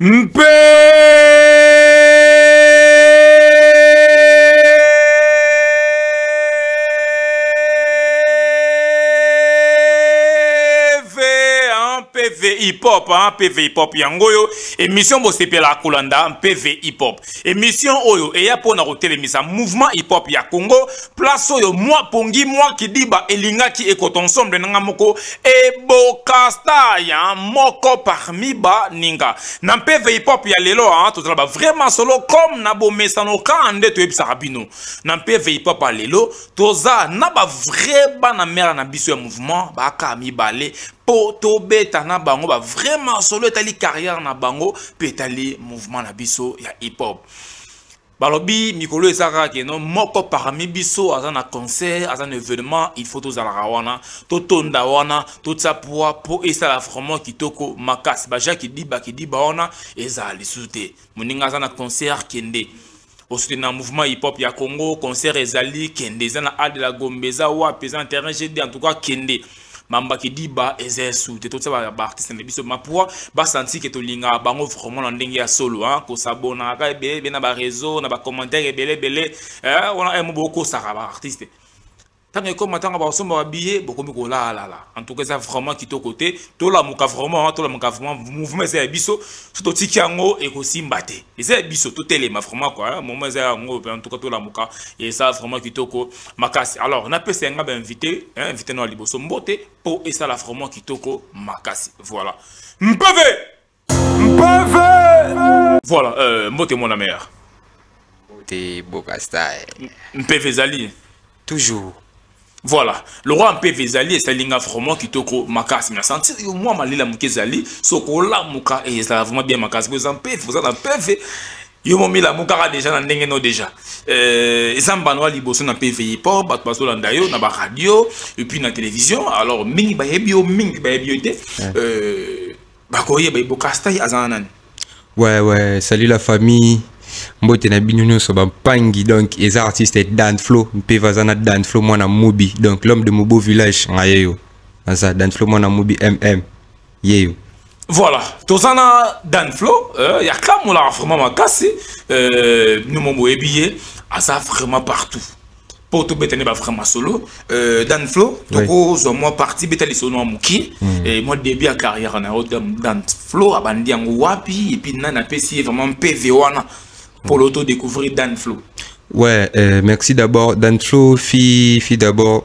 mpe pv hip hop hein, pv hip hop yango oyo émission bosepela kolanda pv hip hop Emission oyo eya pona kotelemisa mouvement hip hop ya Congo place oyo mwa pongi mwa kidiba elingaki ekota ensemble nanga moko ebokasta ya moko parmi ba ninga na mpeve hip hop ya lelo a hein, tozala ba vraiment solo comme na bomesano ka nde toyebisaka bino na mpeve hip hop ya lelo toza na ba vrai bana mère na biso ya mouvement baka mibale po tobeta na bango ba vrai masolo etali carrière na bango mpe etali mouvement na biso ya hip hop balobi mikolo eza kaka keno moko parmi biso aza na concert aza na événement il faut tozalaka wana totonda wana totya poa mpo esala vraiment kitoko makasi baja kidiba kidiba wana ezala lisusu te moninga aza na concert kende na mouvement hip hop ya congo concert ezali kende eza na al de la gombe eza wapi eza na terrain gd en tout cas kende mamba kidiba eza esu te totyaba baartiste na biso mapua basanti ke tolingaka bango vraiment na ndenge ya solo hein. kosabonaka kaka ebelebele na bareseau na bacommentaire ebelebele eh, wana emo eh, bokosaka baartiste ntango ekoma ntango bakosomba babiye bokomi kolalala antuka eza vraiment kitoko te tolamuka vraiment tolamuka vraiment mouvement eza ya biso so totiki yango ekosimba te eza ya biso totelema vraiment kua moment eza yango mpe antuka tolamuka eza vraiment kitoko makasi alors napesa yanga bainvité invité no ya liboso mbote mpo esala vraiment kitoko makasi voilà mpeve Mpeve Voilà, euh, mbote mon mère. Mbote Bokastai. Mpeve ezali. Toujours. Voilà, le roi Mpeve ezali esalinga vraiment kitoko makasi. Na sentir yo mwa malela moke ezali, soko lamuka et ezala vraiment bien makasi. Boza Mpeve, boza na Mpeve. yo momila mokaka deja na ndenge no deja euh, eza mbano ya liboso na pvi mpo bato bazolanda yo na baradio epuis na télévision alors mingi bayebi yo mingi bayebi yo te euh, bakoyeba ye bokastai aza na nani ouais ouais salut la famille mbote na bino nyonso bampangi donc eza artiste danflo mpe vaza na danflo mwana mobi donc l'homme de mobo village nga yeyo aza danflo mwana mobi mm yeyo voilà toza na danflo euh, ya kamolaka vraiment makasi euh, nomo boyebi ye aza vraiment partout mpo tobeta nde bafra masolo euh, dan flo tokozwa mwa parti beta lisolo mwa moke hmm. mwa début ya carrière na yo dan flo abandi yango wapi epuis nani apesi ye vraiment mpeve wana mpo lo to découvrir dan flo ouais euh, merci d'abord dan flo fi fi d'abord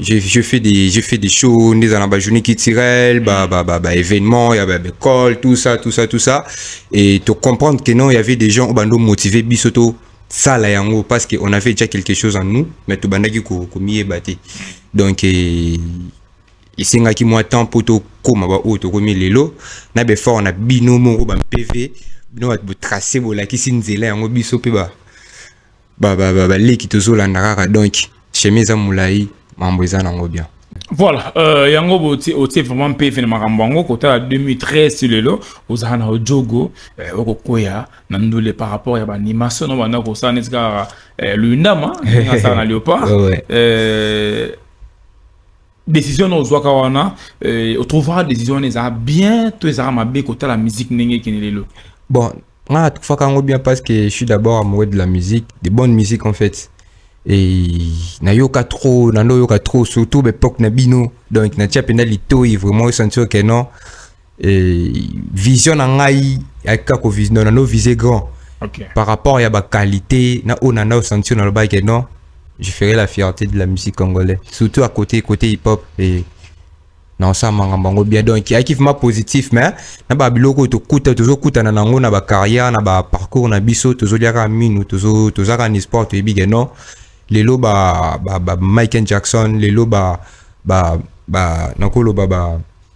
je, je fais des je fais des shows nde eza na ba journée culturelle ba ba ba, ba événement ya ba école tout ça tout ça tout ça et to comprendre que non il y avait des gens bando motivé biso to sala yango parce que on avait déjà quelque chose en nous mais to bandaki ko ko miyeba te donc eh, esengaki mwa temps mpo tokóma baoyo tokomi lelo na befort na bino moko ba mpv bino bato botrace bolakisi nzela yango biso mpe ba ba ba ba, ba leki tozolanda kaka donc chemin eza molai mambo eza nango bien voilà euh, yango botie otie vraiment mpeve na makambo yango kotala 2013 lelo ozala na ojogo eh, okokwea na ndule par rapport ya baanimation na banda kosala neti kaka eh, luyundama asala na léopard eh, décision na ozwaka wana euh, otrouvaka décision wana ezala bien to ezalaka mabe kotala musique ndenge ekende lelo bon nga natruvaka yango bien parce que je suis d'abord amoureux de la musique de bonne musique en fait et nayoka trop nando oyoka trop surtout baepoque na bino donc natia mpenza litoi vraiment osantir que non euh, vision na ngai ayaka ko vision na no viser grand okay. par rapport ya ba qualité na ona na senti na loba que non je ferai la fierté de la musique congolaise surtout à côté côté hip hop et na osamanga bango bien donc ayaki vrima positif mais na babiloko oyo tokuta tozokutana na yango na bacarrière na baparcours na biso tozoliaka minu tozaka na sport toyebi ke non lelo ba, ba, ba michael jackson lelo ba, ba, ba nakoloba ba, ba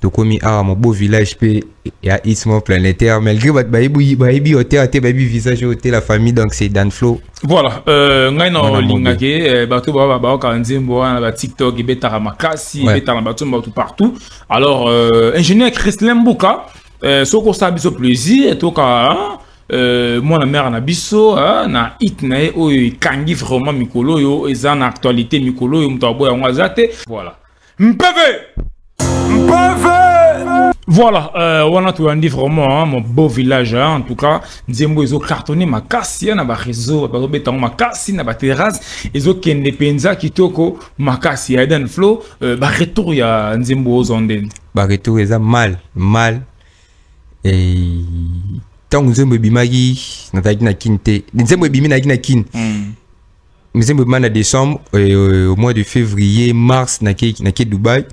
tokomi awa mobo village pe ya ismo planétaire malgré bato bayebi bayebi hotela te bayebi visage oyo te la famille donc c'est dan flow voilà euh, ngai na olingaki euh, bato baa baoka nzembo wana ba tiktok ebetaka makasi ebetaka bato bato partout alors euh, ingénieur christlin mbuka euh, soki osala biso plaisir toka hein? Euh, mwana mère na biso hein, na hit na ye oyo ekangi vraiment mikolo oyo eza na actualité mikolo oyo moto aboya yango aza te voilà Mpeve Mpeve Voilà, euh, wana toyandi vraiment hein, mon beau village hein, en tout cas nzembo ezo cartonné makasi hein, na ba réseau bazobeta yango makasi na ba terrasse ezokende mpenza kitoko makasi ya Eden Flow euh, ba retour ya nzembo ozo ndeni ba retour eza mal mal et ntango nzembo ebimaki nazalaki na kin te nzembo ebimi nayaki na kin mm. mizembo ebima na décembre euh, au mois de février mars nake nake dubaï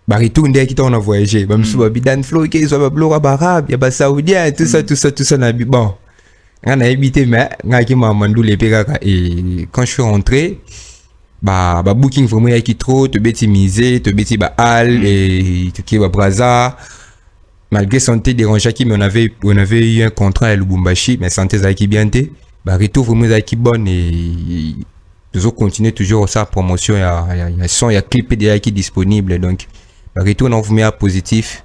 baretour nde yaki ntango na voyage bamisusu babi dan flo ke ezwa babiloko ya baarabe ya basaudien tout ça tout ça tout ça nabi bon ngai nayebi te mais ngai yaki mamandula epe kaka e quand je suis rentré ba ba booking vraiment yaki trop tobeti mise tobeti ba hall e tokie ba braza malgré santé dérangeaki mais on avait, on avait eu un contrat ya lubumbashi mais santé ezalaki bien te baretour vraiment ezalaki bonne et toujours continuer toujours sa promotion ya, ya, ya son ya clip mpe ezalaki disponible donc baretour na ovumi ya positif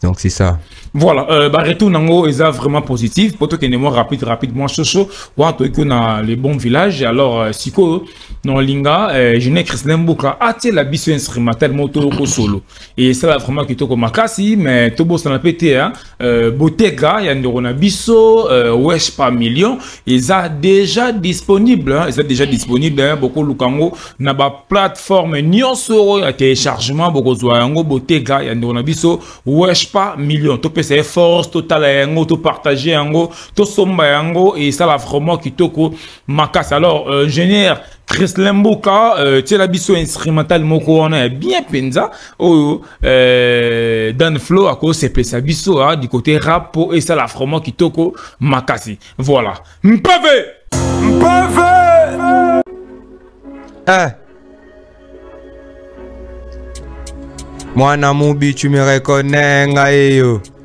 donc c'est ça voilà euh, baretour nango eza vraiment positif mpo tokende mwa rapide rapide mwa soso wana toyeki yo na le bon village alors euh, sikoyo na olinga euh, jeunet christelin mboka atiela biso instrumental moko toyoko solo et ça là vraiment kitoko makasi mais tobo ça n'a pas été hein euh, Bottega ya ndoko na biso euh, wesh pas million ils a déjà disponible hein, ils a déjà disponible hein, beaucoup lukango na ba plateforme nyonso ya téléchargement beaucoup zwa yango Bottega ya ndoko na biso wesh pas million to pesa force total yango to partager yango to somba yango et ça là vraiment kitoko makasi alors euh, ingénieur Chrislin Mboka euh, tiela biso instrumental moko wana ya bien penza oyo euh, Dan Flo akosepesa biso ah, du côté rap po esala vraiment kitoko makasi voilà mpeve mpeve eh. mwana mubi tu me reconnais ngai yo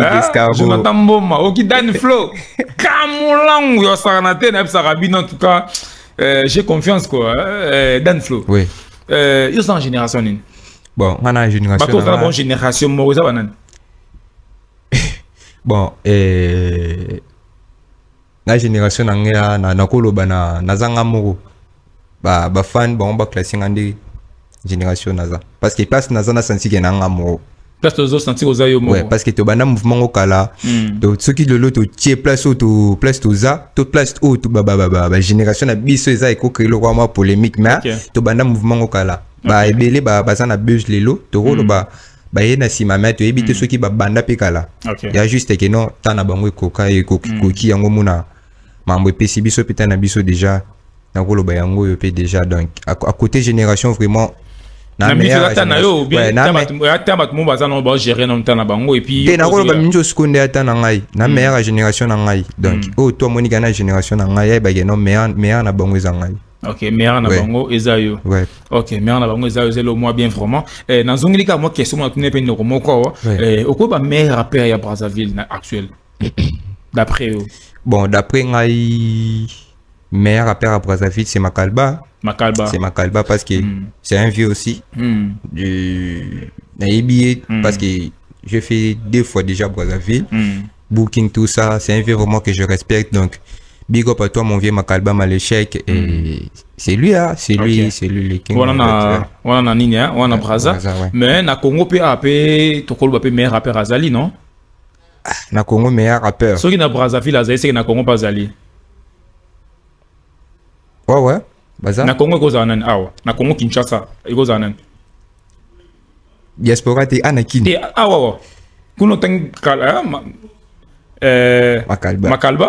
Ah, jonathan mboma okidani flo kamolangu yosakana te nayebisaka bino en tout cas euh, j'ai confiance quoi hein, euh, dan flo oui. euh, yo oza na génération nini bon nga na génération bato ozala bon génération moko eza banani bon euh... na génération na ngai ah, na nakoloba na naza nga moko ba ba fan bango ba classe nga nde génération naza parce que place naza na sensi ke na nga moko place tozo sensi oza yo moko ouais, parce que tobanda mouvement ngo kala mm. to soki lelo totie place oyo to place toza to place oyo to ba ba ba ba, ba génération na biso eza ekokeli lokola mwa polémique mais okay. tobanda mouvement ngo kala ba okay. ebele ba baza na buzz lelo tokoloba mm. baye na nsima me toyebi te mm. soki babanda mpe kala okay. ya juste ke non ta na bango ekoka ekoki mm. koki yango mona mambo epesi biso mpe ta na biso déjà nakoloba yango oyo mpe déjà donc à, à côté génération vraiment na miso ata na yo bien ata bato mo baza nango bagere nano ta na bango epuis te nakoloba mingi osiko nde ata na ngai na mm. meilleur ya génération na ngai donc oyo to amonika na génération na ngai ayebake no meilleur na bango eza ngai ok mère na bango eza yo ok mère na bango eza yo zelo moi bien vraiment eh, nazongeli kaka mwa question mona tuni mpe ndeko moko awa eh, okoyi ba mère apere ya brazzaville na actuel d'après yo bon d'après ngai mère apere ya brazzaville c'est makalba makalba c'est makalba parce que mm. c'est un vieux aussi mm. du nayebi ye mm. parce que j'ai fait deux fois déjà brazzaville mm. booking tout ça c'est un vieux vraiment que je respecte donc big up à toi mon vieux Makalba mal échec et mm. c'est lui hein c'est lui okay. c'est lui le king wana na wana na nini hein wana braza ouais. mais na Congo pe AP tokolo ba pe meilleur rappeur azali non ah, na Congo meilleur rappeur soki na Brazzaville azali c'est que na Congo pas azali Ouais, ouais. Baza. Na Congo ekozala nani awa? Na Congo Kinshasa ekozala nani? Diaspora te ana kin. Te awa wa. Kuno tangi kala ma, euh, makalba makalba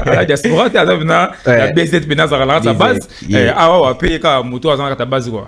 la diaspora te aza na la BZ pena za la base eh, awa wa pe ka moto aza na ta base quoi.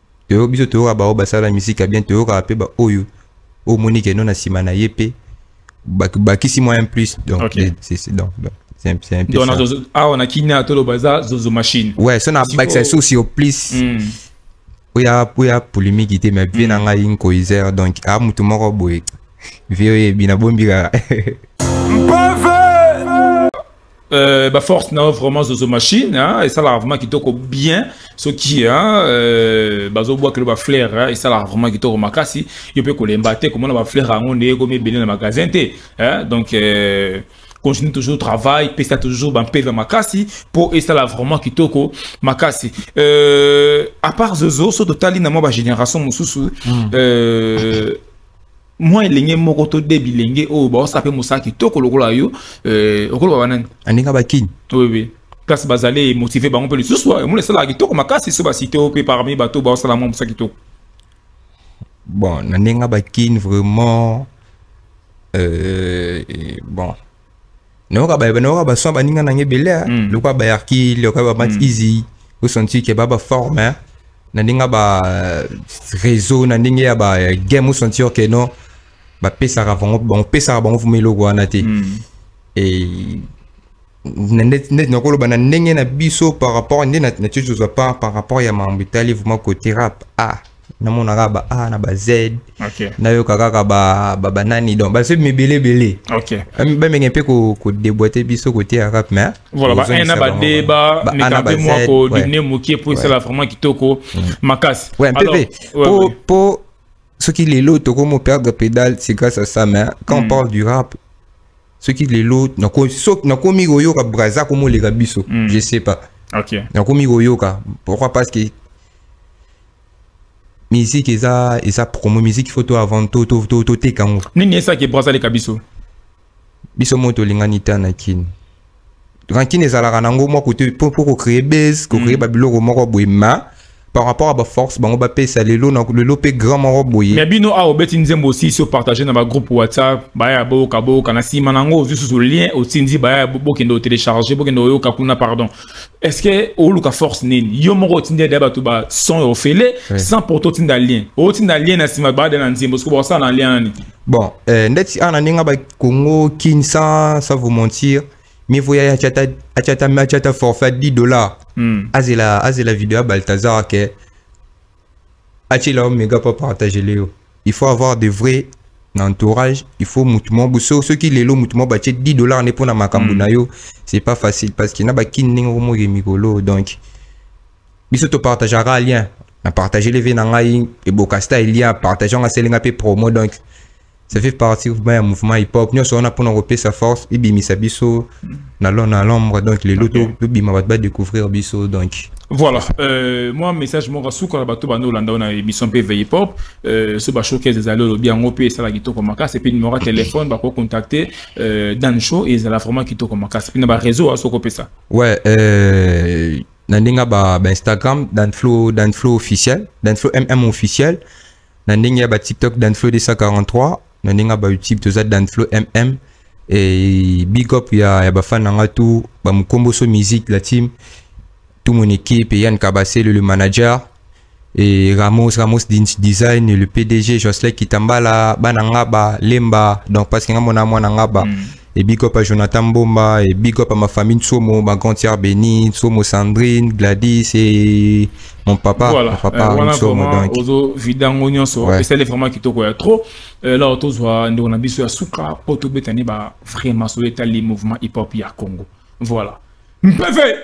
toyo biso toyoka baoyo basala misika bien toyokaka mpe baoyo oyo omoni keno na nsima na ye mpe bakisi moyen plus donc okay. donc, donc. awa na kina toloba eza zozo machine ouais so na bakisa so sur plus mm. oya oya polémique te mais vie na mm. ngai nkoizer donc a motu moko boye vie oyebi na bombika mpave Euh, ba force na vraiment zozo machine hein, et ça la vraiment qui toko bien ce qui hein, euh, bazo bois que le ba flair hein, et ça la vraiment qui toko makasi il peut coller mbaté comment ba flair en on est comme belé na magasin té hein, donc euh, continue toujours travail pesa toujours ba pesa makasi pour et ça la vraiment qui toko makasi euh, à part zozo so totali na moi ba génération mususu mm. euh, mwa elenge moko to de bilenge oyo baosa mpe mosala kitoko lokola yo euh, okoloba banani aninga bakini oui place bazali motive bango mpe lisusu omona esalaka kitoko makasi so basite oyo mpe parmi bato baosala mwa mosala kitoko bon na ndenge bakini vraiment euh, bon nayoka ba nayoka ba son baninga na nge bele mm. lokwa ba yarki lokwa ba mat mm. easy ko senti ke ba ba forme hein. na ndinga ba euh, réseau na ndinga ya ba euh, game senti ke non ba pesaka bango bango pesaka bango fuma eloko wana te mm. et net net na koloba na ndenge na biso par rapport nde na na tozwa par par rapport ya mambo etali vraiment côté rap ah namona kaka ba a na ba z okay. nayoka kaka babanani ba, ba donc basomi ebele ebele okay. bamenge mpe kodeboite biso koteya kap mais voilà ba na ba d ba meka mpe mwa kodimine mokie mpo esala vraiment kitoko mm. makasi ouais, mpe mpe po, po soki lelo tokomo perdre pédale c'est grâce à ça mais quand mm. on parle du rap soki lelo nakomi koyoka braza komoleka biso mm. je sais pas okay. nakomi koyoka pourquoi parce que musique eza eza promo musique faut to avant to to to toteka yango nini esaki ebransa leka biso biso moko tolingani ta na kini rankine ezalaka na yango mwa kote mpo kocree base kocree mm. babiloko moko boye ma par rapport à ba force bango bapesa lelo na lelo mpe grand moko boye mais bino awa obeti nzembo osisi opartage na bagroupe whatsapp baya boyoka boyoka na nsima na yango ozwi susu lien otindi baya bokende otelecharge bokende oyoka kuna pardon est ce que oluka force nini yo moko otindi ade bato ba son ya ofele sans pourtant otinda lien otinda lien na nsima baada na nzembo soki bakosala na lien nani bon euh, ndeti ana ndenge ba congo kin sans sans vous mentir mieux vaut yaya achata achata achata forfait 10 dollars mm. azela azela video ya baltazar ke Achila Omega pas partager Léo. Il faut avoir de vrais na entourage il faut mutu moko so soki lelo mutu moko batie 10 dollars nde mpona makambo mm. na yo c'est pas facile parce que na bakini ndenge okomoki mikolo donc biso topartageaka lien na partage leve na ngai ebokasta elia partage anga aselinga mpe promo donc ça fait partie vraiment ya mouvement hip hop nyonso wana mpona kopesa force ebimisa biso na lo na l'ombre donc lelo okay. tobima bato badécouvrir biso donc voilà euh, moi message moko suka na bato bando olanda na émission mpe veille hip hop euh, so bashowcase ezali olobi yango mpe esala kitoko makasi epuis numero ya téléphone bakocontacte euh, dan show ezala vraiment kitoko makasi mpe na baréseau aso kopesa ouais euh, na ndenge ba, ba instagram danflo danflo officiel danflo mm officiel na ndenge ya ba tiktok danflo 243 na ndenge ya ba youtube toza danflo mm et big up ya, ya bafan na nga tout bamukomboso musique la team tout mon équipe et yann kabasele le manager et Ramos, Ramos Design, le PDG, Jocelyn Kitambala, Banangaba, Lemba, donc parce que mon amour Nangaba, mm. Et big up à Jonathan Mbomba, et big up à ma famille Tsomo, ma grande sœur Béni, Tsomo Sandrine, Gladys et mon papa. Voilà, mon papa euh, voilà Tsomo, vraiment, donc. Ozo vidango nyonso, ouais. et ça les vraiment kitoko ya trop. Euh, là, oto zwa ndeko na biso ya suka, poto betani ba vraiment so etali mouvement hip-hop ya Congo. Voilà. Mpeve!